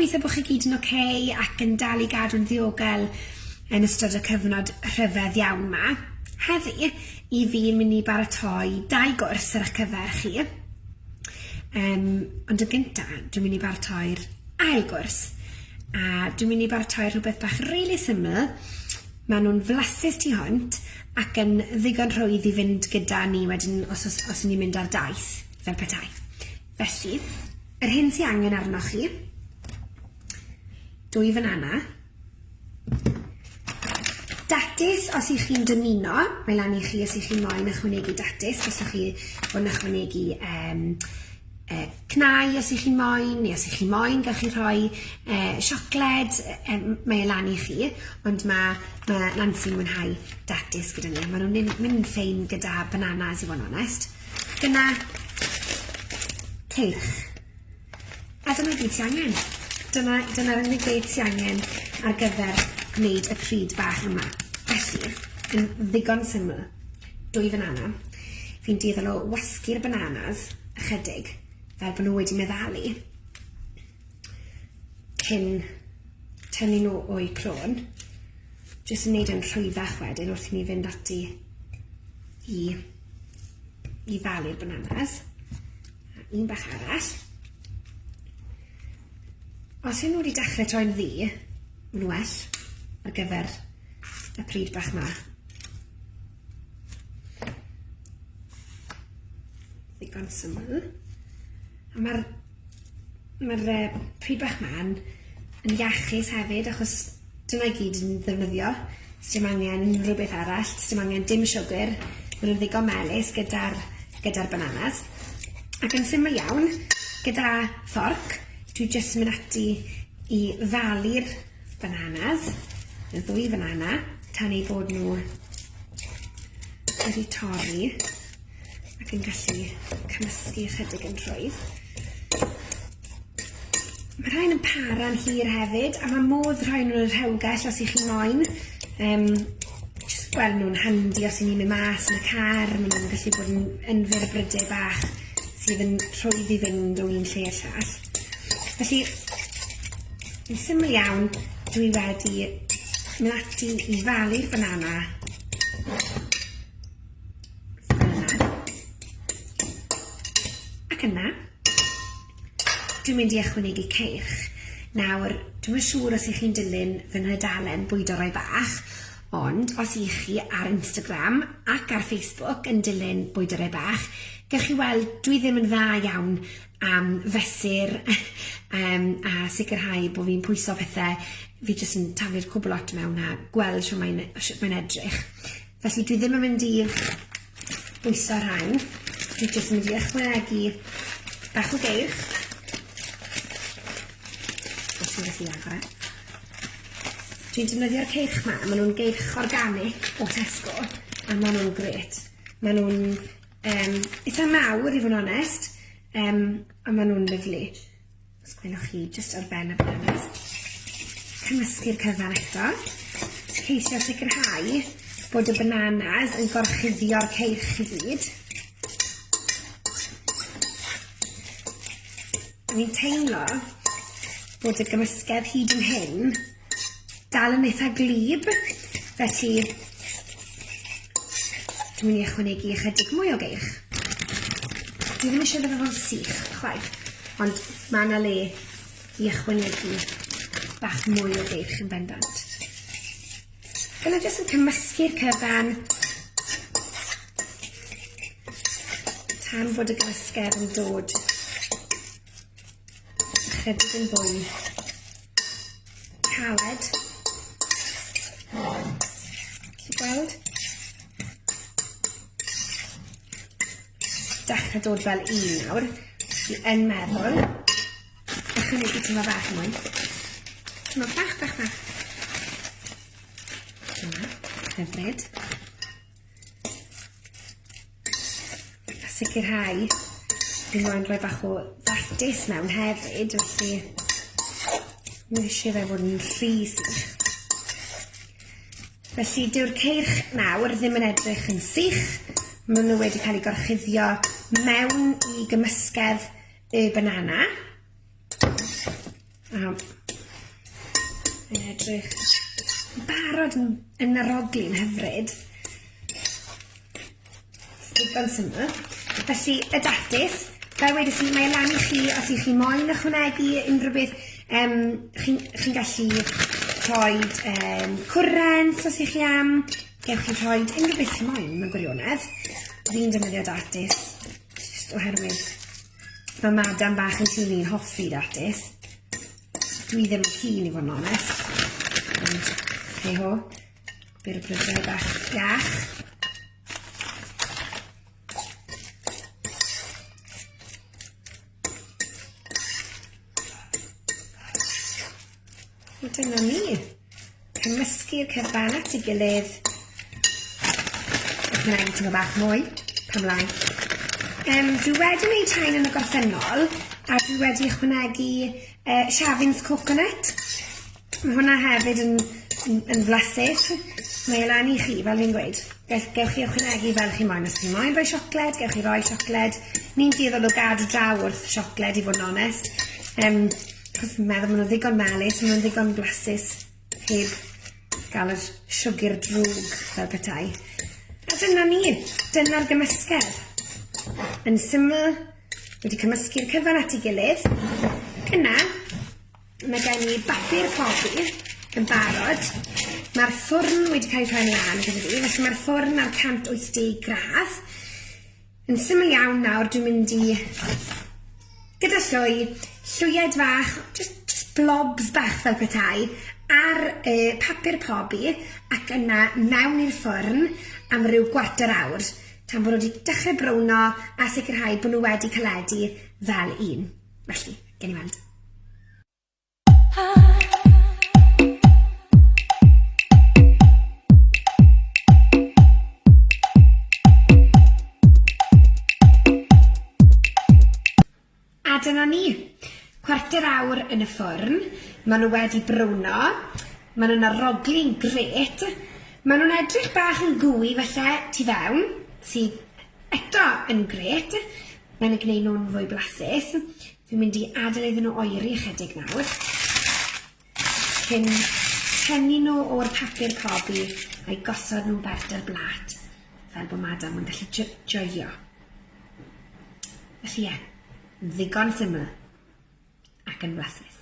gobeithio bod chi gyd yn oce okay ac yn dal i gadw'n ddiogel yn ystod y cyfnod rhyfedd iawn yma. Heddi, i fi'n mynd i baratoi dau gwrs ar eich cyfer chi. Yym, ond yn gynta, dwi'n mynd i baratoi'r ail gwrs, a dwi'n mynd i baratoi rhywbeth bach rili syml, maen nhw'n flasus tu hwnt, ac yn ddigon rhwydd i fynd gyda ni wedyn os os os ni'n mynd ar daith, fel petai. Felly, yr hyn sy angen arnoch chi, dwy fanana, Datus, os y'ch chi'n dymuno, mae lan i chi os y'ch chi'n moyn ychwanegu datus, os y'ch chi yn ychwanegu um, uh, cnau os y'ch chi'n moyn, neu os y'ch chi'n moyn, gawch chi rhoi uh, siocled, um, mae e lan i chi, ond mae ma Nancy'n mwynhau datus gyda ni, maen nhw'n mynd ffein gyda bananas i fod yn onest. Dyna teirch. A dyma gyd ti angen. Dyma, dyna'r unig beth ti angen ar gyfer gwneud y pryd bach yma. Felly, yn ddigon syml, dwy fanana. Fi'n dueddol o wasgu'r bananas ychydig, fel bod nhw wedi meddalu, cyn tynnu nhw o'u crôn, jyst yn neud e'n rhwyddach wedyn wrth i ni fynd ati i i ddalu'r bananas. Un bach arall. Os yw nhw wedi dechrau troi'n ddu, mae'n well ar gyfer y pryd bach ma. Ddigon syml. A mae'r mae'r pryd bach ma'n yn iachus hefyd achos Dyna i gyd yn ddefnyddio. Sdim angen rhywbeth arall. Sdim angen dim siwgr. Ma' nw'n ddigon melys gyda'r gyda'r bananas. Ac yn syml iawn, gyda fforc, dwi jyst yn mynd ati i falu'r bananas, y ddwy fanana, tan eu bod nhw wedi torri. ac yn gallu cymysgu ychydig yn rhwydd. Mae rhain yn para'n hir hefyd, a mae modd rhoi nhw'n y rhewgell os ych chi'n moyn. Um, just gweld nhw'n handi os ydyn ni'n mynd mas yn y car, maen nhw'n gallu bod yn, yn fyr brydau bach sydd yn rhwydd i fynd o'n un lle i'r llall. Felly, yn syml iawn, dwi wedi mynd ati i falu'r banana Ac yna, dwi'n mynd i ychwanegu ceirch. Nawr, dwi'm yn siŵr os ych chi'n dilyn fy nhudalen Bwydo Rai Bach, ond os ych chi ar Instagram ac ar Facebook yn dilyn Bwydo Rai Bach, gewch chi weld dwi ddim yn dda iawn am fesur um, a sicrhau bod fi'n pwyso pethau, fi jyst yn taflu'r cwbl lot mewn a gweld sut mae'n mae'n edrych. Felly dwi ddim yn mynd i bwyso rhain. Dwi jyst yn mynd i ychwanegu bach o geirch. Os ti'n gallu agor e. Dwi'n defnyddio'r ceirch ma, maen nhw'n geirch organic o Tesco, a maen nhw'n gret. Maen nhw'n um, eitha mawr i fod yn onest, um, a maen nhw'n lyflu. Os gwelwch chi, jyst ar ben y byrnys. Cymysgu'r cyfan eto. Ceisio sicrhau bod y bananas yn gorchuddio'r ceirch i gyd. Dwi'n teimlo bod y gymysgedd hyd yn hyn dal yn eitha glib, felly dwi'n mynd i ychwanegu ychydig mwy o geirch. Dwi ddim eisiau fe fo'n sych, chwaith, ond mae yna le i ychwanegu bach mwy o geirch yn bendant. Dyna jyst yn cymysgu'r cyfan tan fod y gymysgedd yn dod ychydig yn fwy caled. Ti'n gweld? Dechrau dod fel un nawr. Fi yn meddwl. Echrau nid i ti'n fach mwy. Ti'n fach, bach, bach. Dyna, hyfryd. A sicrhau fi moyn rhoi bach o ddatis mewn hefyd, felly mi eisiau fe fod yn rhy sych. Felly dyw'r ceirch nawr ddim yn edrych yn sych, maen nhw wedi cael eu gorchuddio mewn i gymysgedd y banana. Nawr, yn edrych yn barod yn, yn naroglu yn hyfryd. Digon syml. Felly, y datus, fel wedys i, mae e lan i chi os ych chi moyn ychwanegu unrhyw beth. Um, chi'n chi gallu rhoi um, cwrent os ych chi am. Gewch chi rhoi unrhyw beth chi moyn mewn gwirionedd. Fi'n defnyddio datus Jyst oherwydd mae madam bach yn tîm i'n hoffi datus. Dwi ddim yn cyn i fod yn onest. Ond, hei ho, byr y prydau bach iach. A dyna ni. Cymysgu'r cyfan at ei gilydd. Ac mae'n teimlo bach mwy, pam lai. Um, dwi wedi gwneud rhain yn y gorffennol, a dwi wedi ychwanegu uh, Shavins Coconut. Mae hwnna hefyd yn, yn, yn flasus. Mae e lan i chi, fel fi'n gweud. Gewch chi ychwanegu fel chi moyn. Os chi moyn rhoi siocled, gewch chi roi siocled. Ni'n dueddol o gadw draw wrth siocled, i fod yn onest. Um, Achos fi'n meddwl ma' nw ddigon melys ma' nw'n ddigon blasus heb ga'l yr siwgr drwg fel petai. A dyna ni, dyna'r gymysgedd. Yn syml, wedi cymysgu'r cyfan at 'i gilydd. Yna, mae gen i bapur cofi yn barod. Mae'r ffwrn wedi cael ei rhoi lan gyda fi, felly mae'r ffwrn ar 180 gradd. Yn syml iawn nawr dwi'n mynd i gyda llwy, llwyed fach, jyst jyst blobs bach fel petai, ar y papur pobi ac yna mewn i'r ffwrn am ryw gwarter awr, tan bo' nhw 'di dechre browno a sicrhau bo' nhw wedi caledu fel un. Felly, gewn ni weld. A dyna ni. Cwarter awr yn y ffwrn, ma' nhw wedi browno, ma' nhw'n aroglu'n grêt, ma' nhw'n edrych bach yn gooey falle tu fewn, sydd eto yn grêt, mae'n ei gwneud nhw'n fwy blasus. Fi'n mynd i adael iddyn nhw oeri ychydig nawr cyn tynnu nhw o'r papur cobi a'i gosod nhw'n bert ar blat fel bod madam yn gallu jo joio. Felly ie, ddigon syml ac yn flasus.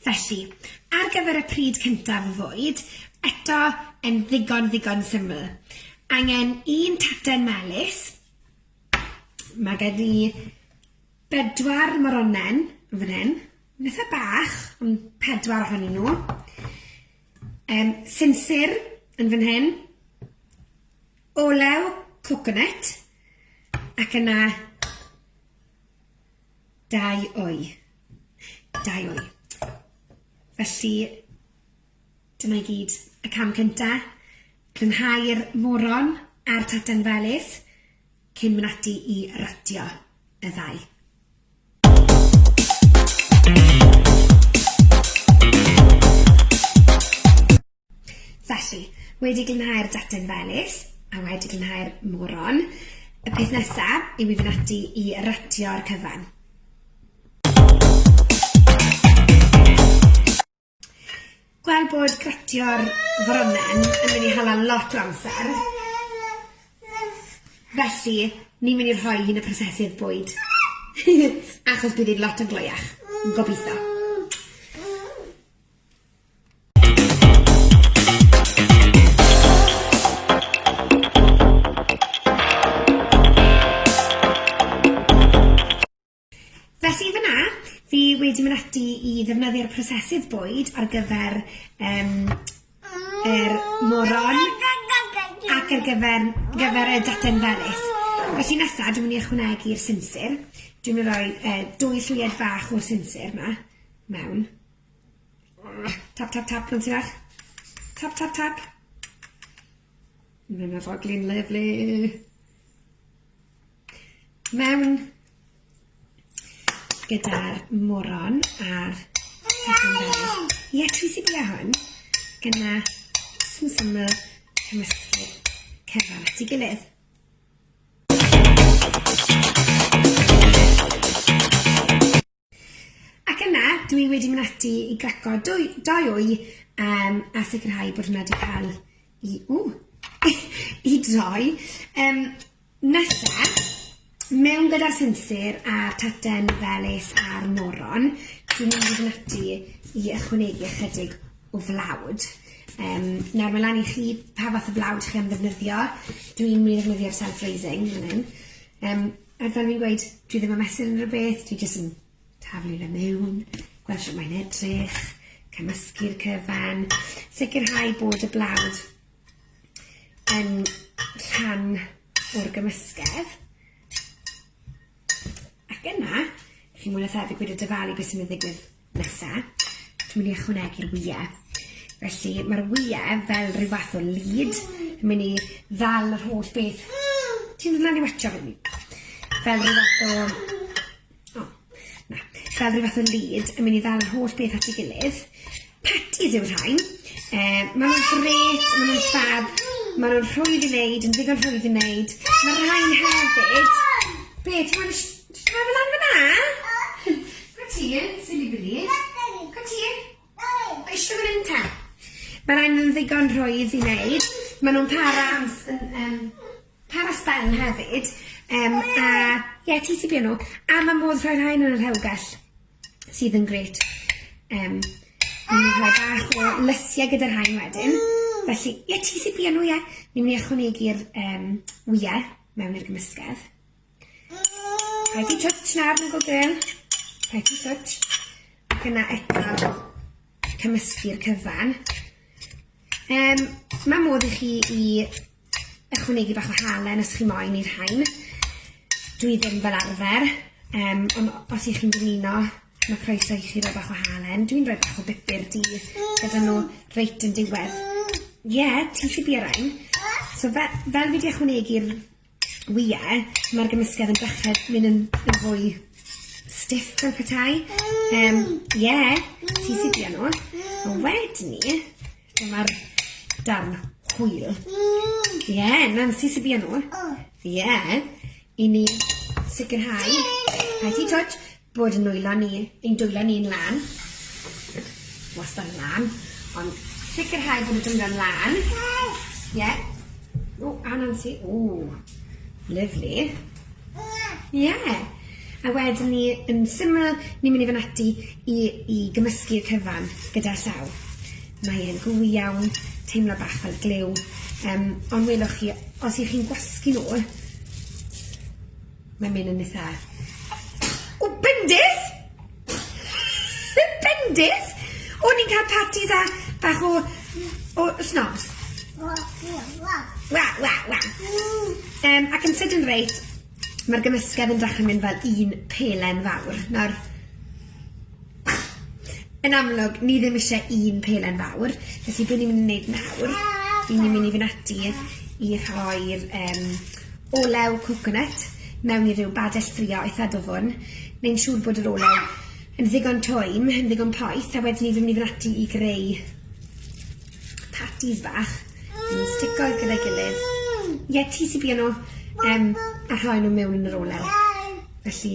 Felly, ar gyfer y pryd cyntaf o fwyd, eto yn ddigon, ddigon syml. Angen un taten melys, mae gen i bedwar moronen yn fan hyn, nitha bach, ond pedwar ohonyn nhw. Um, sinsir yn fan hyn, olew coconut, ac yna Dau wy. Dau wy. Felly, dyma i gyd y cam cynta. Clynhau'r moron a'r tatan felys cyn mynd ati i ratio y ddau. Felly, wedi glanhau'r data'n felys, a wedi glanhau'r moron, y peth nesa yw i fynd ati i ratio'r cyfan. Gweld bod gratio'r foronen yn mynd i hala lot o amser. Felly, ni'n mynd i rhoi hi'n y prosesydd bwyd. Achos bydd hi'n lot yn gloiach. Gobitho. Felly fy na, fi wedi mynd ati i ddefnyddio'r prosesydd bwyd ar gyfer um, er moron ac ar gyfer, gyfer y daten felys. Felly nesaf, dwi'n mynd i ychwanegu'r sinsir. Dwi'n mynd i roi uh, dwy llwyed fach o'r sinsir yma mewn. Tap tap tap ma'n sâl. Tap tap tap. Mae'n arogli'n lyfli. Mewn gyda'r moron a'r pethau Ie, ti sy'n bia hwn. Gyda sy'n syml cymysgu cyfan at ei gilydd. Ac yna, dw i wedi mynd ati i graco dwy, dau wy um, a sicrhau bod hwnna wedi cael i, ww, i droi. Um, nesa, mewn gyda'r sinsir a'r taten felys a'r moron, dwi'n mynd i fynd ati i ychwanegu ychydig o flawd. Um, nawr, mae lan i chi pa fath o flawd chi am ddefnyddio. Dwi'n mynd i ddefnyddio'r self-raising fan hyn. Um, Er fel fi'n gweud, dwi ddim yn mesur unrhyw beth, dwi jyst yn taflu fe mewn, gweld shwt mae'n edrych, cymysgu'r cyfan, sicrhau bod y blawd yn rhan o'r gymysgedd. Ac yna, chi mwy na thebyg wedi dyfalu beth sy'n mynd i ddigwydd Nesa, dwi'n mynd i ychwanegu'r wyau. Felly, mae'r wyau fel rhyw fath o lid. Dwi'n mynd i ddal yr holl beth. Ti'n dod lan i watcha fi? Fel rhyw fath o... O, na. Fel rhyw fath o lid. Dwi'n mynd i ddal yr holl beth at ei gilydd. Patties yw'r rhain. Um, maen nhw'n gret, maen nhw'n ffab. Maen nhw'n rhwydd i wneud, yn ddigon rhwydd i wneud. Mae'r rhain hefyd... Be, ti'n mynd Ti'n rhoi fe lan fyna? Go tîn, silly billy. Go tîn. O eisiau fan hyn ta? Mae rhaid nhw'n ddigon rhwydd i wneud. Mae nhw'n para am... Um, para sbel hefyd. Um, a, ie, yeah, ti sy'n byd nhw. A mae modd rhoi rhain yn yr hewgell, sydd yn gret. Um, Ni'n rhoi bach o lysiau gyda'r rhain wedyn. Felly, ie, yeah, ti sy'n byd nhw, ie. Ni'n mynd i ychwanegu'r um, wyau mewn i'r gymysgedd. Rhaid i twtsh na ar Google Gym. Rhaid i twtsh. Ac yna eto cymysgu'r cyfan. Um, mae modd i chi i ychwanegu bach o halen os chi moyn i'r hain. Dwi ddim fel arfer, um, ond os ych chi'n dymuno, mae croeso i chi roi bach o halen. Dwi'n rhoi bach o bupur di gyda nhw reit yn diwedd. Ie, yeah, ti'n lli ar ein. So fe, fel fi wedi ychwanegu'r Wye, mae'r gymysgedd yn dechrau mynd yn, yn fwy stiff fel petai. Um, yeah, ti sydd di nhw. A wedyn ni, dyma'r darn hwyl. Ie, yeah, na'n ti sydd di nhw. Ie, i ni sicrhau. Rhaid ti twtch. Bod yn nwylo ni, ein dwylo ni'n lân. Wastad yn lân. Ond sicrhau bod y dwylo'n lân. Ie. O, a Nancy. O, lyfli. Ie. A wedyn ni, yn syml, ni'n mynd i fynd ati i, i gymysgu'r cyfan gyda llaw. Mae e'n gwy iawn, teimlo bach fel glyw. Um, ond welwch chi, os ych chi'n gwasgu nhw, Mae'n mynd yn eitha... O bendith! Yn bendith! O'n ni'n cael parti da bach o o snobs. Wa wa wa. Yym ac yn sydyn reit ma'r gymysgedd yn dechre mynd fel un pelen fawr. Nawr Yn amlwg, ni ddim isie un pelen fawr, felly be' ni myn' i neud nawr, 'yn ni myn' i fyn' ati i rhoi'r yym olew coconut mewn i ryw badell ffrio eitha dwfwn, neu'n siŵr bod yr olew yn ddigon twym, yn ddigon poeth, a wedyn ni fyn' i fyn' ati i greu patis bach, yn stico gyda'i gilydd. Ie, ti sy bia nw, yym, a rhoi nw mewn yn yr olew. Felly...